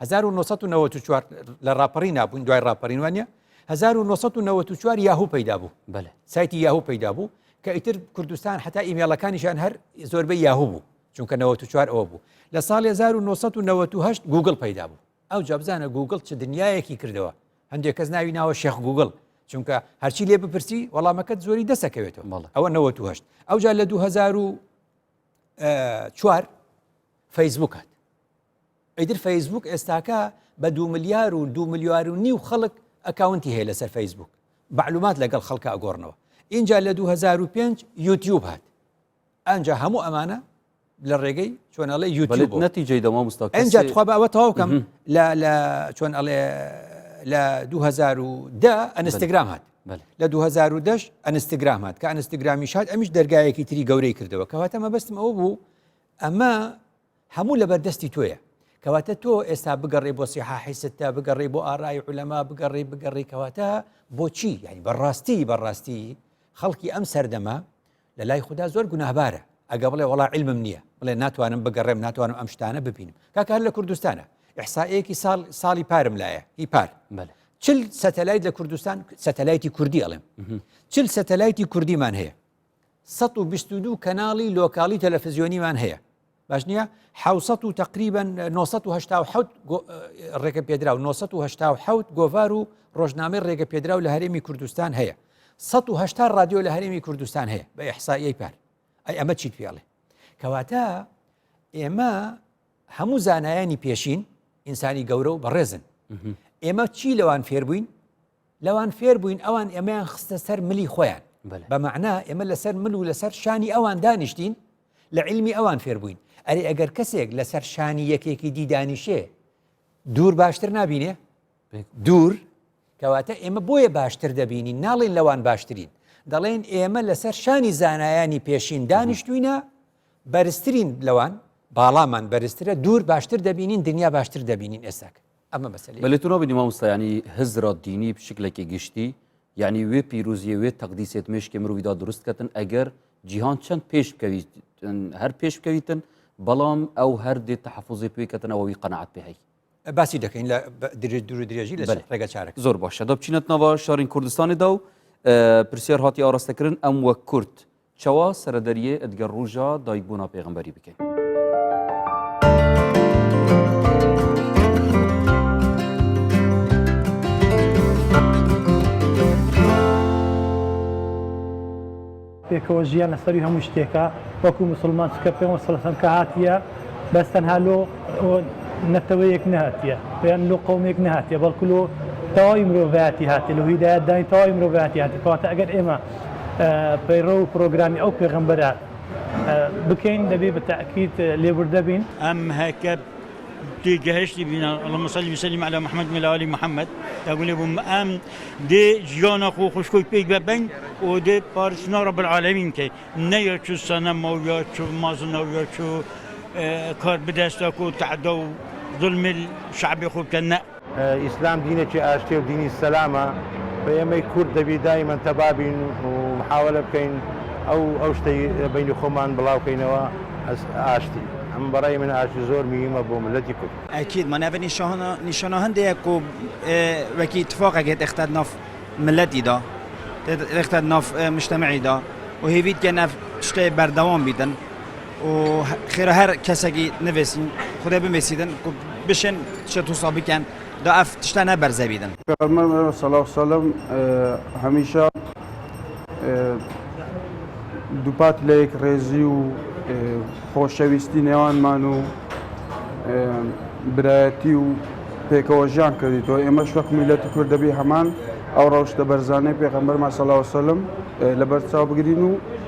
1994 لە ڕاپەڕی نابوون دوای ڕاپەرین وانە 1994 یاهو پەیدا بوو بەە سایتی یاهو پەیدا بوو کە ئیتر کوردستان حتا ئیمێڵەکانیشان هەر زۆربە یاهو بوو چونکە 94 ئەوە بوو لە ساڵ 1998 گوگل پەیدا بوو ئەو جابزانە گوگل چ دنیایەکی کردەوە هەندێک کەس ناوی ناوە شێخ گوگل چونکە هەرچی لێ بپرسی وەڵامەکەت زۆری دەسەکەوێتەوە مەڵە ئەوە 98 ئەوجا لە 2000 چوار فەیسبوکات ئیتر فەیسبووک ئێستاکە بە دو ملیار و دو ملیار و نیو خەڵک ئەکاونتی هەیە لەسەر فەیسبووک بەعلومات لەگەڵ خەڵکە ئەگۆڕنەوە اینجا لە 2005 یوتیوب هات ئەجا هەموو ئەمانە لە ڕێگەی چۆنەڵێ یوتیوب نەتیجەی دەما مستەوە ئەجا تخوا بەوە تەواوکەم لە لە چۆن ئەڵێ لە 2010 ئەنستگرام هات لە 2010 ئەنستگرام هات کە ئەنستگرامی شاد ئەمیش دەرگایەکی تری گەورەی کردەوە کەواتە مەبەستم ئەوە بوو ئەمە هەموو لەبەر دەستی تۆیە کەواتە تۆ ئێستا بگەڕێ بۆ سیحا حیستە بگەڕێ بۆ ئارای علەما بگەڕێ بگەڕی کەواتە بۆچی یعنی بەڕاستی بەڕاستی خەڵکی ئەم سەردەمە لە لای خوددا زۆر گوناهبارە ئەگە بڵێ وڵا علمم نییە بڵێ ناتوانم بگەڕێم ناتوانم ئەم شتانە ببینم کاکار لە کوردستانە ئحسائەیەکی ساڵ ساڵی پارم لایە هی پار چل سەتەلایت لە کوردستان سەتەلایتی کوردی ئەڵێم چل سەتەلایتی کوردیمان هەیە سەد و بیست و دوو کەناڵی لۆکاڵی تەلەفزیۆنیمان هەیە باش نییە حوسەت و تقریبن 1970 ڕێگە پێدرا و 1970 گۆڤار و ڕۆژنامەی ڕێگە پێدرا و لە هەرێمی کوردستان هەیە 1970 رادیۆ لە هەرێمی کوردستان هەیە بە ئەحسایی پار ئەی ئەمە چیت پێڵێ کەواتە ئێمە هەموو زانایانی پێشین ئینسانی گەورە و بەڕێزن ئێمە چی لەوان فێربووین لەوان فێر بووین ئەوان ئێمەیان خستە سەر ملی خۆیان بە معنا ئێمە لەسەر مل و لەسەر شانی ئەوان دانیشتین لە علمی ئەوان فێر بووین ئەری ئەگەر کەسێک لەسەر شانی یەکێکی دیدانیشێ دوور باشتر نبینێ دوور کەواتە ئێمە بۆیە باشتر دەبینین ناڵێن لەوان باشترین دەڵێن ئێمە لەسەر شانی زانایانی پێشین دانیشتوینە بەرزترین لەوان باڵامان بەرزترە دوور باشتر دەبینین دنیا باشتر دەبینین ئێساکە ئەمە مەسەلەی. بەلی تۆ نابینی مامۆستا یانی هزر ە دینی بشکلەکی گشتی یانی وێ پیروزیە وێ تەقدیسێت مێشکی مروڤی دا دروست کەتن ئەگەر جیهان چەند پێش بکەویتن هەر پێش بکەویتن بەڵام ئەو هەر دێ تەحەفوزی پێ کەتن ئەوەوی قەناعەت پێ هەی باسی دەکەین لە درێژ دوور و درێژی لە بەلی ڕێگە چارەکە. زۆر باشە دا بچینەت ناڤا شارین کوردستانی دا و پرسیار هاتی ئاڕاستە کرن ئەم وەک کورد چوا سەرە دەریێ ئەت گە ڕوژا دایک بوونا پێغمبەری بکەین. پێکەوە ژیان لە سەری هەموو شتێکە وەکو مسلمان چکە پێ سەسم کە هاتیە بەس تەنها لۆ نەتەوەیەک نهاتیە پێیان لۆ قومێک نهاتیە بەڵکو لۆ تەواوی مرۆڤایەتی هاتی لە هیدایەتدانی تەواوی مرۆڤایەتی هاتی کەواتە ئەگەر ئێمە پەیڕەو پڕۆگرامی ئەو پێغەمبەرە بکەین دەبێ بە تەئکید لێبوردە بین. ئەم کە تێگەهشتی بین اللهم صل وسلم علی محمد وعلی آل محمد دەگولی بوم ئەم دێ جیانە خۆ خوشکۆی پێی بە بەنگ و دێ پارسنا رب العالمین کەی نەیە چو سەنە ماویا چو مازنەویا چو کار بدەستە کۆ تەعدا و ظلم شعب خۆ بکە نە ئیسلام دینێکی ئاشتیە و دینی سەلامە و ئێمەی کورد دەبی دایمەن تەبا بین و محاوەلە بکەین ئەو ئەو شتەی لە بەینی خۆمان بڵاو کەینەوە ئاشتی ئەم بەڕای من ئاشتی زۆر میهمە بۆ مللەتی کورد. ئەکید مە ناڤی نیشانە هندێ یە کو وەکی تفاقە گێت ئێختاد ناف مللەتی دا ئێختاد ناف مشتەمەعی دا و هێڤید کە ناف شتەێ بەردەوام بیدن. و خێرە هەر کەسەگی نەڤێسین خودای بمێسیدن کو بشێن شە تووسا بکەن دا ئەف تشتە نە بەرزە بیدن. پێغەمبەر علیە سڵاو وسلام هەمیشە دووپات لە یەکڕێزی و خۆشەویستی نێوانمان و برایەتی و پێکەوە ژیان کردیتەوە ئێمەش وەک میلەتی کورد دەبی هەمان ئەو ڕەوشتە بەرزانەی پێغەمبەرمان صلی اللە علیه و سلم لەبەرچاو بگرین و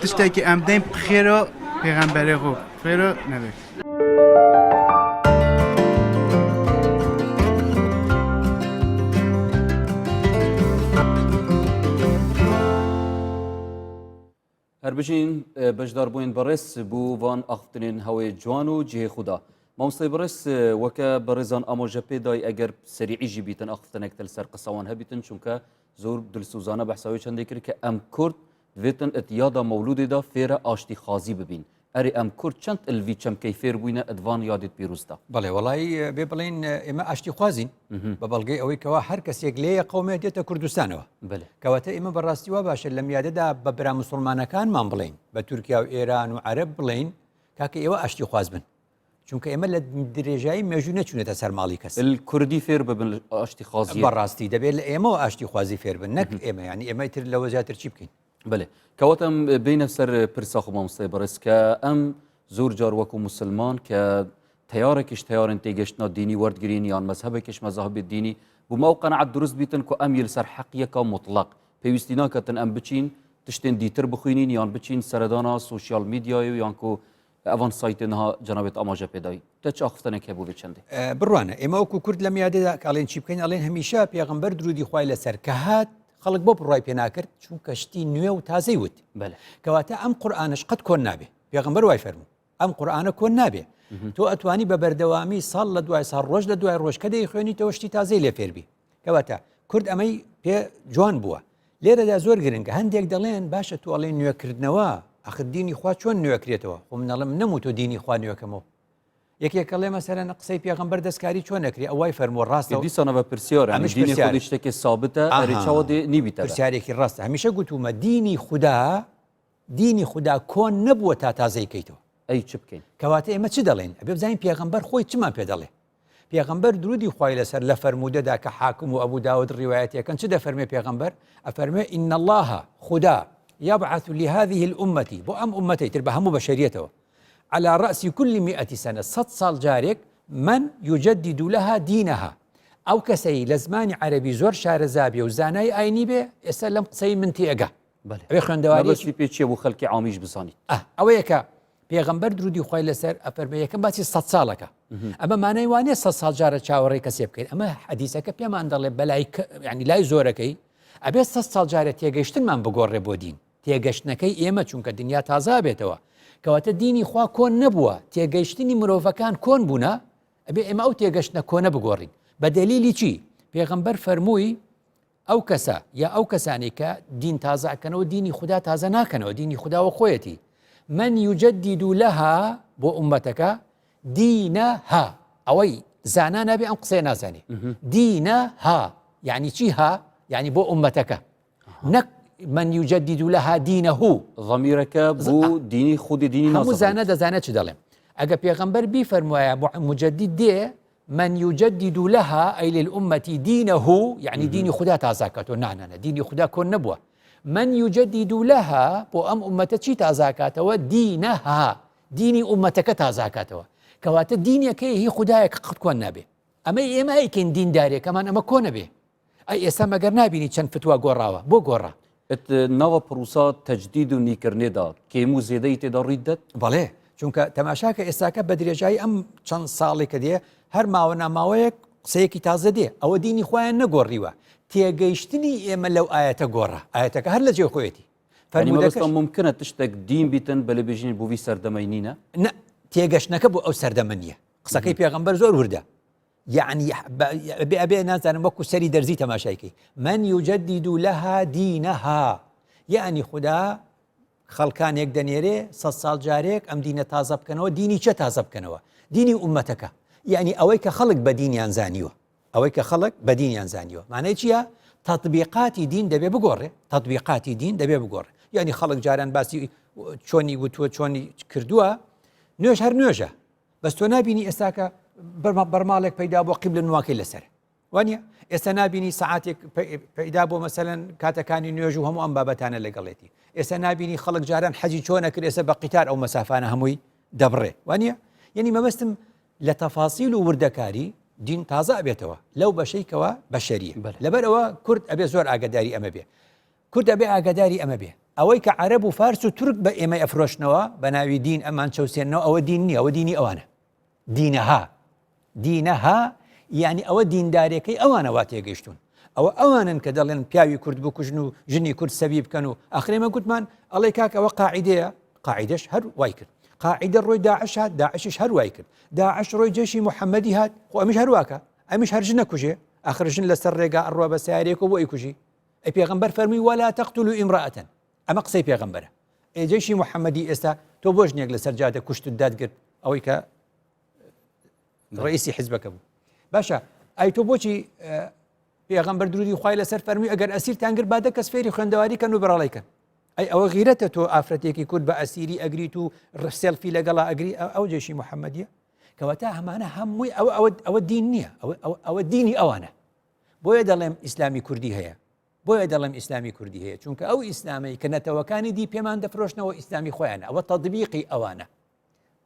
تشتێ کە ئەم دەیم خێرۆ پێغەمبەرێ خۆ خێرۆ نەبێت. هەربژین بەشدار بووین بەڕێز بوو وان ئاختنین هەوەی جوان و جێ خوددا مامۆستی بڕێز وەکە بەڕێزان ئامۆژە پێدای ئەگەر سەریعیژی بیتن ئاختنێکتل سەر قسەوان هەبیتن چونکە زۆر دلسوزانە بەحساوی چەندی کرد کە ئەم کورد ڤێتن ئەت یادا مەولودێدا فێرە ئاشتی خازی ببین ئەری ئەم کورد چەند ئەلڤی چەمکەی فێر بووینە ئەدڤان یادت پیرروستا بەڵێ وڵی بێ بڵین ئێمە ئاشتی خوازین بە بەڵگەی ئەوەی کەوا هەر کەسێک لێە قومێ دێتە کوردستانەوە کەواتە ئێمە بەڕاستی وا باشە لەم یادەدا بە برا مسلمانەکانمان بڵین بە تورکیا و ئێران و عرب بڵین تاکە ئێوە ئاشتی خوازبن چونکە ئێمە لە درێژایی مێژوو نەچونێتە سەر ماڵی کەس کوردی فێر ببن ئاشتی خازی بەڕاستی دەبێت لە ئێمە ئاشتی خوازی فێر بن نەک ئێمە ینی ئێمە تر لەوە زیاتر چی بکەین بڵێ کەواتم بینە سەر پرسە خۆمامسای بەڕێز کە ئەم زۆر جار وەکو مسلمان کە تیارێکیش تیارن تێگەشتنا دینی وەرگرین یان مەزهبێکش مەزهبێت دینی بوومە و قەنەعات دروست بیتن کو ئەم یل سەر حەقیەکە مطلق پێویستی ناکەتن ئەم بچین تشتێن دیتر بخوینین یان بچین سەردانا سوسیال میدیای و یانکو ئەڤان سای تەنها جەنابت ئاماژە پێدای تە چ ئاخفتەنێک هەبوو بێ چەندێ بڕوانە ئێمە وەکو کورد لەم یادەدا کاڵێن چی بکەین ئەڵێن هەمیشە پێغمبەر درودی خی لەسەر کە هات خەڵک بۆ بڕای پێناکرد چونکە شتی نوێ و تازەی وت کەواتە ئەم قورآانش قەت کۆن نابێ پێغمبەر وای فەرمو ئەم قورآانە کۆن نابێ تۆ ئەتوانی بە بەردەوامی ساڵ لە دوای ساڵ ڕۆژ لە دوای ڕۆژ کە دەی خوێنیتەوە شتی تازەی لێ فێربی کەواتە کورد ئەمەی پێ جوان بووە لێرەدا زۆر گرنگە هەندێک دەڵێن باشە توواڵێ نوێکردنەوە ئەخدینی خوا چۆن نوێکرێتەوە خۆ منەڵم نەمو تۆ دینی خوا نوێکەمەوە یەکێکە لێ مەسەرەن قسەی پێغمبەر دەستکاری چۆن نەکری ئەوای فەرمۆ ڕاستە دیسانە بە پرسیۆر شتێکی سابتە نیبیتە پرسیارێکی ڕاستە هەمیشە گوتومە دینی خوددا دینی خودا کۆن نەبووە تا تازەی کەیتەوە. ئەی چ بکەین؟ کەواتە ئێمە چ دەڵێین؟ ئەبێ بزانین پێغەمبەر خۆی چمان پێ دەڵێ. پێغەمبەر درودی خوای لەسەر لە فەرموودەدا کە حاکم و ابو داود ڕیوایەتیەکەن چ دەفەرموێ پێغەمبەر؟ ئەفەرموێ، ان اللە، خودا، یبعث لهذه الامە، بۆ ئەم ئوممەتەی تر بە هەموو بەشەریەتەوە، علی رأس کل مئة سنە، سەد ساڵ جارێک، من یجدد لها دینها، ئەو کەسەی لە زمانی عەرەبی زۆر شارەزا بێ و زانای ئاینی بێ ئێستا لەم قسەی من تێ ئەگا. بەێ خوێندەواری پێ چیە بۆ خەلکی عامیش بزانیت ئەوەیەکە پێغمبەر درودی خۆی لەسەر ئەفەرمە یەکەم باسی سە ساڵەکە ئەمە مانای وانە سە ساڵ جارە چاوەڕێ کەسێ بکەین ئەمە حەدیسەکە پێمان دەڵێ بەلای ینی لای زۆرەکەی ئەبێ سە ساڵ جارە تێگەشتنمان بگۆڕێ بۆ دین تێگەشتنەکەی ئێمە چونکە دنیا تازا بێتەوە کەواتە دینی خوا کۆن نەبووە تێگەیشتنی مرۆڤەکان کۆن بوونە ئەبێ ئێمە ئەو تێگەشتە کۆنە بگۆڕین بە دەلیلی چی پێغمبەر فەرمووی ئەو کەسە یا ئەو کەسانەی کە دین تازە ئەکەنەوە دینی خودا تازە ناکەنەوە دینی خداوە خۆیەتی من یوجددی دوو لەها بۆ عومەتەکە دینە ها ئەوەی زانا نابێ ئەم قسەیە نازانێ دینە ها یعنی چی ها یعنی بۆ عومەتەکە نەک من یوجددی دوو لەها دینە هو ضمیرەکە بۆ دینی خودی دینی هەموو زانە دەزانێت چ دەڵێم ئەگە پێغەمبەر بیفەرموایە مجددی دێ من یجدد لها ئەی للئومەتی دینه یعنی دینی خدا تازاکاتەوە نانانە دینی خدا کۆن نەبووە من یجدد لها بۆ ئەم ئومەتە چی تازاکاتەوە دینەها دینی ئومەتەکە تازاکاتەوە کەواتە دینەکەی هی خدایەک قەت کۆن نابێ ئەمە ئێمە ئەیکەین دیندارێک ئەمان ئەمە کۆنە بێ ئەی ئێستا مەگەر نابینی چەند فتوا گۆڕاوە بۆ گۆڕا ات ناوە پڕوسا تەجدید و نیکردنێدا کێم و زێدەی تێدا ڕووی دەت؟ بەڵێ چونکە تەماشاکە ئێستاکە بە درێژایی ئەم چەند ساڵی کە دێ هەر ماوە ناماوەیەک قسەیەکی تازە دێ ئەوە دینی خۆیان نەگۆڕیوە تێگەیشتنی ئێمە لەو ئاەتە گۆڕە ئاەتەکە هەر لە جێ خۆیەتی فەرمودەکە ممکنە تشتێک دین بیتن بەلێ بژین بووی سەردەمەی نینە نە تێگەشتنەکە بۆ ئەو سەردەمە نیە قسەکەی پێغمبەر زۆر وردە یەعنی ئەبێ ئەبێ نازانم وەکو سەری دەرزی تەماشای کەی من یجدد لها دینها یەعنی خودا خەڵکانێک دەنێرێ سە ساڵ جارێک ئەم دینە تازە بکەنەوە دینی چە تازە بکەنەوە دینی عومەتەکە یعنی ئەوەی کە خەڵک بە دینیان زانیوە ئەوەی کە خەڵک بە دینیان زانیوە مانای چییە تطبیقاتی دین دەبێ بگۆڕێ تطبیقاتی دین دەبێ بگۆڕێ یعنی خەڵک جاران باسی چۆنی وتووە چۆنی کردووە نوێژ هەر نوێژە بەس تۆ نبینی ئێستاکە بەرماڵێک پیدا بۆ قیبلە نواکەی لەسەر وانە ئێستا نبینی سعاتێک پیدا بۆ مەسەن کاتەکانی نوێژ و هەموو ئەم بابەتانە لەگەڵێتی ئێستا نبینی خەڵک جاران حەجی چۆنە کرد ئێستا بە قیتار ئەو مەسافانە هەمووی دەبڕێ وانە یعنی مەبەستم لە تەفاسیل و وردەکاری دین تازە بێتەوە لەو بەشەیکەوە بەشەریە لەبەرەوە کورد ئەبێ زۆر ئاگداری ئەمە بێ کورد ئەبێ ئاگاداری ئەمە بێ ئەوەی کە عەرەب و فارس و تورک بە ئێمەی ئەفرۆشنەوە بە ناوی دین ئەمان چەوسێنەوە ئەوە دین نیە ئەوە دینی ئەوانە دینەها دینەها یعنی ئەوە دیندارەکەی ئەوانە وا تێگەشتون ئەوە ئەوانن کە دەڵێن پیاوی کورد بکوژن و ژنی کورد سەوی بکەن و ئەخرێمە گوتمان ئەڵێ کاک ئەوە قاعدەیە قاعدەش هەر وای کرد قاعدە ڕۆی داعش هات داعشش هەر وای کرد داعش ڕۆی جێشی محەممەدی هات خۆ ئەمیش هەرواکە ئەمیش هەرژ نەکوژێ ئەخرژن لەسەر ڕێگا ئەڕوا بە سیارێکەوە بۆ ئەیکوژی ئەی پێغەمبەر فەرمووی وەلا تەقتولو ئیمرەئەتەن ئەمە قسەی پێغەمبەرە ئەی جەیشی محەممەدی ئێستا تۆ بۆ ژنێک لەسەر جادە کوشتت دادگرت ئەوەی کە ڕئیسی حزبەکە بوو باشە ئای تۆ بۆچی پێغەمبەر درودی خخوای لەسەر فەرمی ئەگەر ئەسیر تانگر بادە کەس فێری خوێندەواری کەن و بەڕڵیکەن ئەی ئەوە غیرەتە تۆ ئافرەتێکی کورد بە ئەسیری ئەگریت و ڕسێلفی لەگەڵا ئەگری ئەو جێشی محەممەدیە کەواتە هەمانە هەمووی ئەوە ئەوە ئەوە دین نییە ئەوە دینی ئەوانە بۆیە دەڵێم ئیسلامی کوردی هەیە بۆیە دەڵێم ئیسلامی کوردی هەیە چونکە ئەو ئیسلامەی کە نەتەوەکانی دی پێمان دەفرۆشنەوە ئیسلامی خۆیان ئەوە تەدبیقی ئەوانە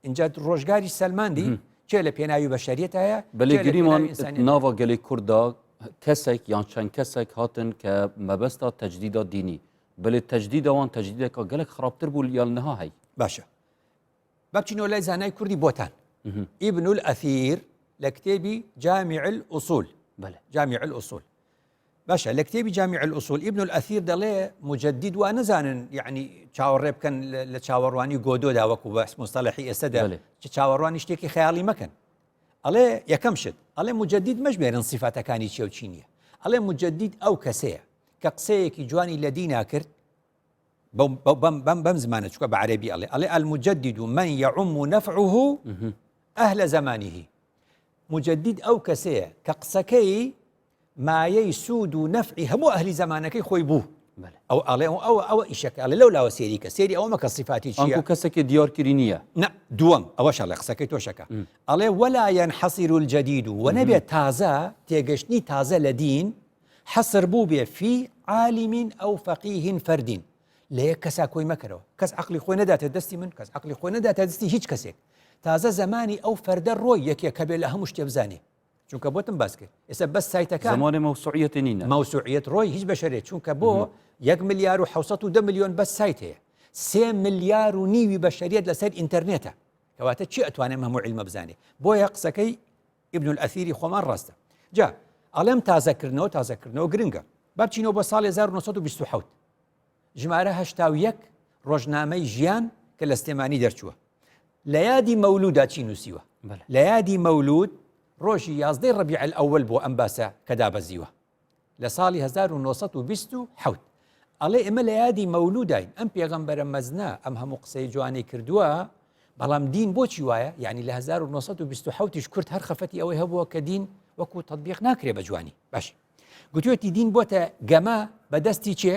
اینجا ڕۆژگاری سەلماندی چێ لە پێناوی بە شەریت هەیە بەێ گریمان ناوە گەلی کووردا کەسێک یان چەند کەسێک هاتن کە مەبەستا تەجدیدا دینی بەێ تەجدیداوان تەجدیدێکە گەلک خراپتر بوو یان نها هەی باشە با بچینەوە لای زانای کوردی بۆتان ئیبن الأثیر لە کتێبی جامیع الأصول بەلێ جامیع الأصول باشە لە کتێبی جامیع الأصول ئیبن الأثیر دەڵێ مجدد وا نەزانن یعنی چاوەڕێ بکەن لە چاوەڕوانی گۆدۆدا وەکو بەس مستەلحی ئێستا دەڵێ چ چاوەڕوانی شتێکی خەیاڵی مەکەن ئەڵێ یەکەم شت ئەڵێ مجدد مەژمێرن سیفاتەکانی چێوچینیە ئەڵێ مجدد ئەو کەسەیە کە قسەیەکی جوانی لە دینا کرد بەو بەم بەم بەم زمانە چکە بە عەربی ئەڵێ ئەڵێ المجدد و من یعم و نەفعه ئەهلە زمانیه مجدد ئەو کەسەیە کە قسەکەی مایەی سوود و نەفعی هەموو ئەهلی زمانەکەی خۆی بوو ئەو ئەڵێ ئەوە ئەوە ئیشەکە ئەڵێ لەو لاوە سێری کە سێری ئەوە مەکە سیفاتی چیە کەسەکە دیارکردی نییە نە دووەم ئەوە شەڵێ قسەکەی تۆشەکە ئەڵێ وەلایەن حەسیر و جدید و وە نەبێت تازە تێگەشتنی تازە لە دین حەسر بووبێ فی عالیمین ئەو فەقیهین فەردین لە یەک کەسا کۆی مەکەرەوە کەس عقلی خۆی نەداتێت دەستی من کەس عقلی خۆی نەداتە دەستی هیچ کەسێک تازە زمانی ئەو فەردە ڕۆی یەکێک کە بێ لە هەموو شتێ بزانێ چونکە بۆتم باس کرد ئێستا بەس سایتەکان زمانی مەوسوعیەتی نینە مەوسوعیەت ڕۆی هیچ بەشەرێت چونکە بۆ یەک ملیار و 1970 میلیۆن بەس سایت هەیە سێ ملیار و نیوی بەشەریت لەسەر ئینتەرنێتە کەواتە چی ئەتوانێت هەموو علمە بزانێ بۆیە قسەکەی ابن الاثیری خۆمان ڕاستە جا ئەڵێم تازەکردنەوە تازەکردنەوە گرنگە با بچینەوە بۆ ساڵی 1920 ژمارە هەشتا و یەک ڕۆژنامەی ژیان کە لە سلێمانی دەرچووە لە یادی مەولودا چی نووسیوە لە یادی مەولود ڕۆژی یازدەی ڕبیع ئەوەل بۆ ئەم باسە کە دابەزیوە لە ساڵی هەزار و نۆ سەد و بیست و حەوت ئەڵێ ئێمە لە یادی مەولوداین ئەم پێغەمبەرە مەزنە ئەم هەموو قسەی جوانەی کردووە بەڵام دین بۆچی وایە یعنی لە هەزار و نۆ سەد و بیست و حەوتیش کورد هەر خەفەتی ئەوەی هەبووە کە دین وەکو تطبیق ناکرێ بە جوانی باش گوتوێتی دین بۆتە گەمە بەدەستی چێ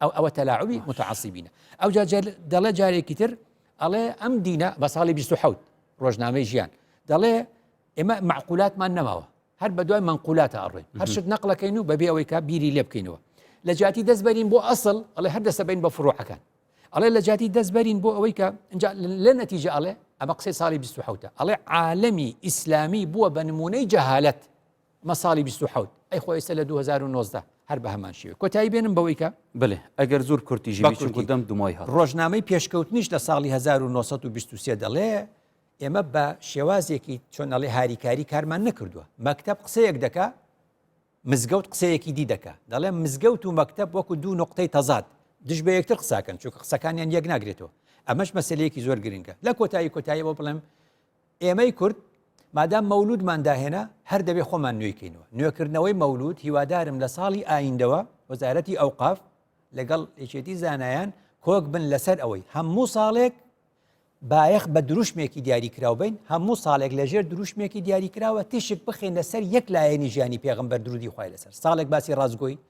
ئەو ئەوە تەلاعبی متعسیبینە ئەوجا دەڵێ جارێکی تر ئەڵێ ئەم دینە بە ساڵی 1970 ڕۆژنامەی ژیان دەڵێ ئێمە معقولاتمان نەماوە هەر بە دوای منقولاتە ئەڕێن هەرشت نەقلەکەین و بەبێ ئەوەی کا بیری لێ بکەینەوە لە جاتی دەست بەرین بۆ ئەسڵ ئەڵێ هەر دەسە بین بە فڕۆعەکان ئەڵێ لە جاتی دەست بەرین بۆ ئەوەی کە لە نەتیجە ئەڵێ ئەمە قسەی ساڵی 1970 ئەڵێ عالمی ئیسلامی بووە بە نمونەی جەهالت مە ساڵی بیست و حەوت ئەی خۆ ئێستە لە دوو هەزار و نۆزدە هەر بە هەمان شێوە کۆتایی بێنم بەوەی کە بلێ ئەگەر زۆر کورتیژی بە بی چونکو کورتی دەم دمای هات ڕۆژنامەی پێشکەوتنیش لە ساڵی هەزار و نۆ سەد و بیست و سێ دەڵێ ئێمە بە شێوازێکی چۆن ئەڵێ هاریکاری کارمان نەکردووە مەکتەب قسەیەک دەکا مزگەوت قسەیەکی دی دەکا دەڵێ مزگەوت و مەکتەب وەکو دوو نقطەی تەزاد دژ بە یەکتر قساکەن چونکە قسەکانیان یەک ناگرێتەوە ئەمەش مەسلەیەکی زۆر گرنگە لە کۆتایی کۆتاییەوە بڵێم ئێمەی کورد مادام مەولودمان داهێنا هەر دەبێ خۆمان نوێی کەینەوە نوێکردنەوەی مەولود هیوادارم لە ساڵی ئایندەوە وەزارەتی ئەوقاف لەگەڵ یەکێتی زانایان کۆک بن لەسەر ئەوەی هەموو ساڵێک بایەخ بە دروشمێکی دیاریکراو بین هەموو ساڵێک لەژێر دروشمێکی دیاریکراوە تیشک بخینە سەر یەک لایەنی ژیانی پێغمبەر درودی خی لەسەر ساڵێک باسی ڕازگۆی